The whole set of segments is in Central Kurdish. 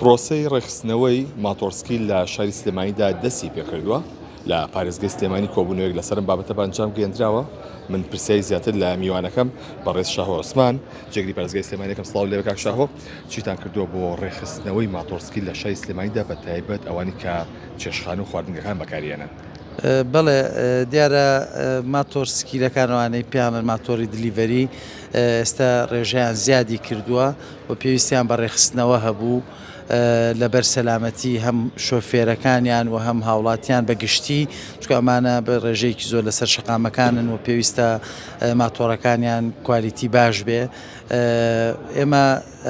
پرۆسەی ڕێکخستنەوەی ماتۆڕسکیل لە شاری سلێمانیدا دەستی پێکردووە، لە پارێزگەی سلێمانی کۆبوونەوەیەک لەسەر ئەم بابەتە بە ئەنجام گەیەندراوە، من پرسیاری زیاتر لە میوانەکەم بەڕێز شاهۆ عوسمان جێگری پارێزگای سلێمانی دەکەم، سڵاو لێرە کاک شاهۆ چیتان کردووە بۆ ڕێکخستنەوەی ماتۆڕسکیل لە شاری سلێمانیدا بە تایبەت ئەوانەی کە چێشتخانە و خواردنگەکان بەکاریهێنن؟ بەڵێ دیارە ماتۆڕسکیلەکان ئەوانەی پێیان بڵێن ماتۆڕی دلیڤەری ئێستا ڕێژەیان زیادی کردووە و پێویستیان بە ڕێکخستنەوە هەبوو لەبەر سەلامەتی هەم شۆفێرەکانیان و هەم هاوڵاتیان بە گشتی چکە ئەمانە بە ڕێژەیەکی زۆر لەسەر شقامەکانن و پێویستە ماتۆڕەکانیان کوالیتی باش بێ ئێمە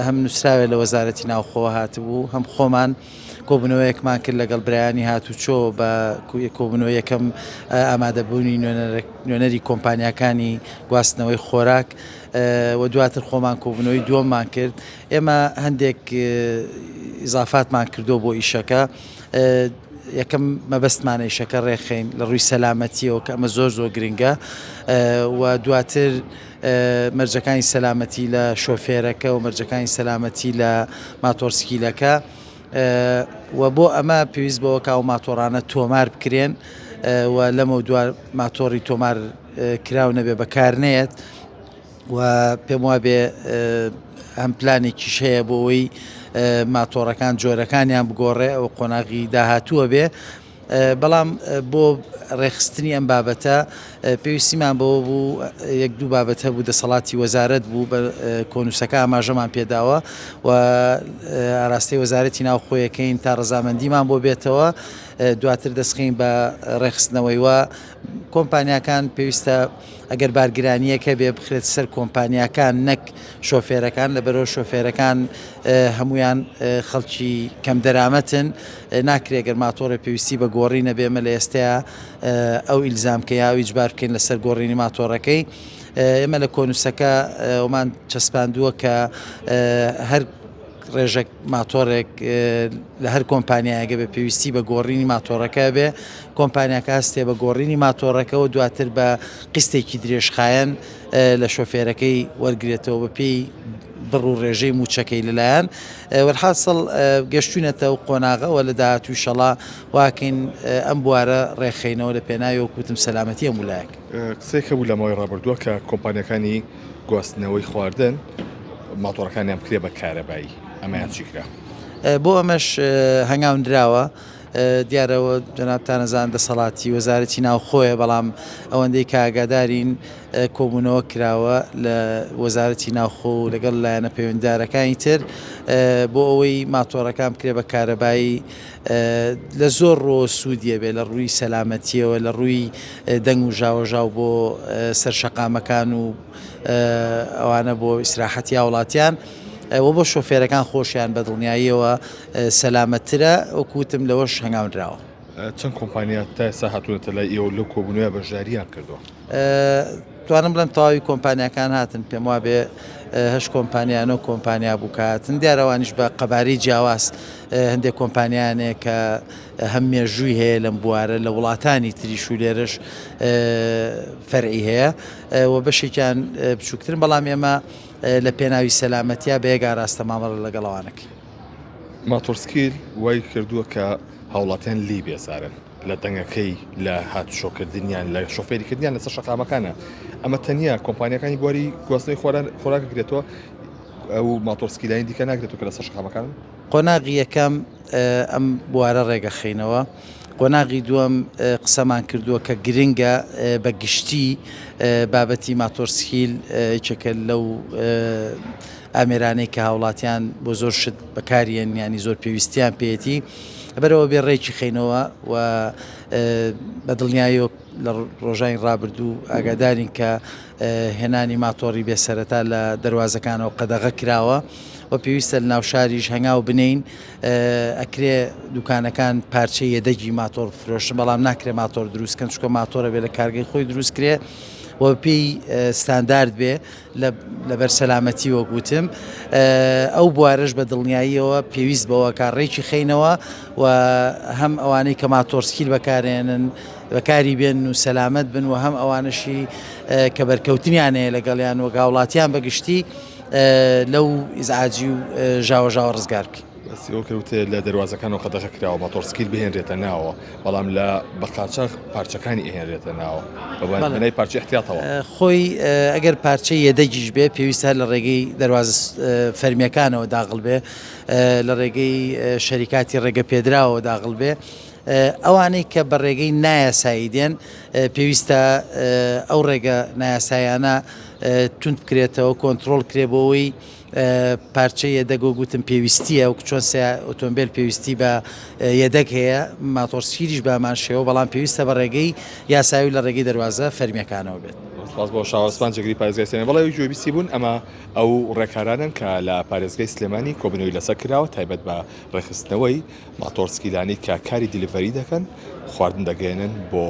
هەم نووسراوێ لە وەزارەتی ناوخۆوە هاتبوو هەم خۆمان کۆبنەوەیەکمان کرد لەگەڵ برایانی هاتوچۆ بە کۆبنەوە یەکەم ئامادەبوونی نوێنەری کۆمپانیەکانی گواستنەوەی خۆراک و دواتر خۆمان کۆبوونەوەی دووەممان کرد ئێمە هەندێک ئیزافاتمان کردو بۆ ئیشەکە یەکەم مەبەستمانە ئیشەکە ڕێخین لە ڕووی سەلامەتیەوە کە ئەمە زۆر زۆر گرنگە و دواتر مەرجەکانی سەلامەتی لە شۆفێرەکە و مەرجەکانی سەلامەتی لە ماتۆرسکیلەکە و بۆ ئەمە پێویست بەوە کاو ماتۆڕانە تۆمار بکرێن و لەمە دووار ماتۆڕی تۆمار کراو نەبێ بەکار نەیەت و پێم وابێ ئەم پلانێکی شەیە بۆەوەی ماتۆڕەکان جۆرەکانیان بگۆڕێ ئەو قۆناغی داهاتووە بێ بەڵام بۆ ڕێکخستنی ئەم بابەتە پێویستیمان بەوە بوو یەک دوو بابەت هەبوو دەسەڵاتی وەزارەت بوو بە کۆنووسەکە ئاماژەمان پێداوە و ئاراستەی وەزارەتی ناوخۆیەکەین تا ڕزامەندیمان بۆ بێتەوە دواتر دەستخین بە ڕێخستنەوەی و کۆمپانیاکان پێویستە ئەگەر بارگرانیەکە بێ بخرێت سەر کۆمپانیاکان نەک شۆفێرەکان لە بەرەو شۆفێرەکان هەمویان خەڵکی کەم دەرامەتن ناکرێ گەر ماتۆڕێ پێویستی بە گۆڕی نەبێ ئێمە لە ئێستەیا ئەو ئیلزام کە یاو ئیجبار بکەین لەسەر گۆڕینی ماتۆڕەکەی ئێمە لە کۆنووسەکە ئەومان چەسپاندووە کە هەر ڕێژەک ماتۆرێک لە هەر کۆمپانیایەگە بە پێویستی بە گۆڕینی ماتۆڕەکە بێ کۆمپانیاکە هەستێ بە گۆڕینی ماتۆڕەکەەوە دواتر بە قستێکی درێژخایەن لە شۆفێرەکەی وەرگێتەوە بە پێی بڕ و رێژەی مووچەکەی لەلایەن وەلحاسڵ گەشتوینەتە و قۆناغە وە لە داهاتوو ئیشەڵا واکەین ئەم بوارە رێکخەینەوە لە پێناوی وەک وتم سەلامەتی هەموو لایەک. قسەیەک هەبوو لە ماوەی ڕابردووە کە کۆمپانیاکانی گواستنەوەی خواردن ماتۆڕەکانیان بکرێت بە کارەبایی ئەمەیان چی کرا؟ بۆ ئەمەش هەنگاونراوە. دیارە جەنابتان ئەزانن دەسەڵاتی وەزارەتی ناوخۆیە بەڵام ئەوەندەی کە ئاگادارین کۆبوونەوە کراوە لە وەزارەتی ناوخۆ و لەگەڵ لایەنە پەیوەنددارەکانی تر بۆ ئەوەی ماتۆڕەکان بکرێ بە کارەبایی لە زۆر ڕۆ سوودیە بێ لە ڕووی سەلامەتیەوە لە ڕووی دەنگ و ژاوەژاو بۆ سەر شەقامەکان و ئەوانە بۆ ئیسراحەتی هاوڵاتیان و بۆ شۆفێرەکان خۆشیان بە دڵنیاییەوە سەلامەتترە، وەکو وتم لەوەش هەنگاونراوە. چەند کۆمپانیا تا ئێستا هاتوونەتە لای ئێوە و لەو کۆبوونەوەیە بەشدارییان کردووە؟ توانم بڵێم تەواوی کۆمپانیاکان هاتن، پێم وابێ هەشت کۆمپانیا نۆ کۆمپانیا بوو کە هاتن، دیارە ئەوانیش بە قەبارەی جیاواز هەندێک کۆمپانیایان هەیە کە هەم مێژووی هەیە لەم بوارە لە وڵاتانی تریش و لێرەش فەرعی هەیە و بەشێکیان بچووکترن، بەڵام ئێمە لە پێناوی سەلامەتیا بە یەک ئاراستە مامەڵە لەگەڵ ئەوانە کەین. ماتۆڕسکیل وای کردووە کە هاوڵاتیان لێی بێزارن لە دەنگەکەی، لە هاتوچۆکردنیان، لە شۆفێریکردنیان لەسەر شەقامەکانە، ئەمە تەنیا کۆمپانیاکانی بواری گواستنەوەی خۆراک گرێتەوە ئەو ماتۆڕسکیلانی دیکە ناگرێتەوە کە لەسەر شەقامەکانن؟ قۆناغی یەکەم ئەم بوارە ڕێگەخینەوە. قۆناغی دووەم قسەمان کردووە کە گرنگە بە گشتی بابەتی ماتۆڕسکیل یەکێکە لەو ئامێرانەی کە هاوڵاتیان بۆ زۆر شت بەکاریان ینی زۆر پێویستیان پێێتی بەرەوە بێ ڕێکی خینەوە و بە دڵنیایۆ لە ڕۆژانی ڕابردوو ئاگادارین کە هێنانی ماتۆڕی بێسەرەتا لە دەواازەکانەوە قەدەغە کراوە و پێویستە لە ناوشاریش هەنگاو بنین ئەکرێ دوکانەکان پارچەی یەدەگی ماتۆڕ بفرۆشن بەڵام ناکرێ ماتۆر دروست کەن چکە ماتۆرە بێ لە کارگەی خۆی دروست کرێ و پێی ستاندارد بێ لەبەر سەلامەتی وەگوتم ئەو بوارش بە دڵنیاییەوە پێویست بەوە کارڕێکی خینەوە و هەم ئەوانەی کە ماتۆرسکیل بەکارێنن بەکاری بێن و سەلامەت بن و هەم ئەوانشی کە بەرکەوتنیانەیە لەگەڵیان و گاوڵاتیان بەگشتی لەو ئیزعاجی و ژاوەژاوە ڕزگار بکەین. سیرۆ کەوتێ لە دەروازەکان و قەدەغە کراوە ماتۆڕسکیل بهێنرێتە ناوەوە بەڵام لە بە قاچاخ پارچەکانی ئەهێنرێتە ناوە بەبەندەی پارچە احتیاطەوە خۆی ئەگەر پارچە یەدەگیش بێ پێویستە لە ڕێگەی دەروازە فەرمیەکانەوە داغڵ بێ لە ڕێگەی شەریکاتی ڕێگە پێدراوە داغڵ بێ ئەوانەی کە بە ڕێگەی نایاسایی دێن پێویستە ئەو ڕێگە نایاسایانە توند بکرێتەوە کۆنترۆڵ کرێ بۆ ئەوەی پارچە یەدەگۆ گوتم پێویستیە و چۆن سێ ئۆتۆمبیل پێویستی بە یەدەک هەیە ماتۆرسیریش بامان شێوە بەڵام پێویستە بە ڕێگەی یاساوی لە ڕێگەی دەواازە فەرمیەکانەوە بێت خاص بۆ شاوەسپان جگری پارێزگەسێنە بەڵێ گوێبیسی بوون ئەمە ئەو ڕێکارانن کە لە پارێزگەی سلێمانی کۆبنەوەی لەسەر کراوە تایبەت بە ڕێخستنەوەی ماتۆڕ سکیلانەی کە کاری دیلیڤەری دەکەن خواردن دەگەیەنن بۆ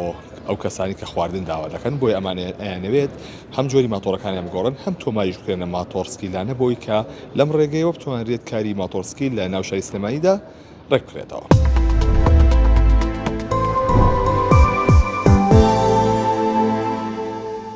ئەو کەسانی کە خواردن داوا دەکەن بۆی ئەمانەیانەوێت هەم جۆری ماتۆڕەکانیان بگۆڕن هەم تۆماریش بکرێنە ماتۆڕ سکیلانە بۆی کە لەم ڕێگەیەوە بتوانرێت کاری ماتۆڕ سکیل لە ناوشاری سلێمانیدا ڕێک بکرێتەوە.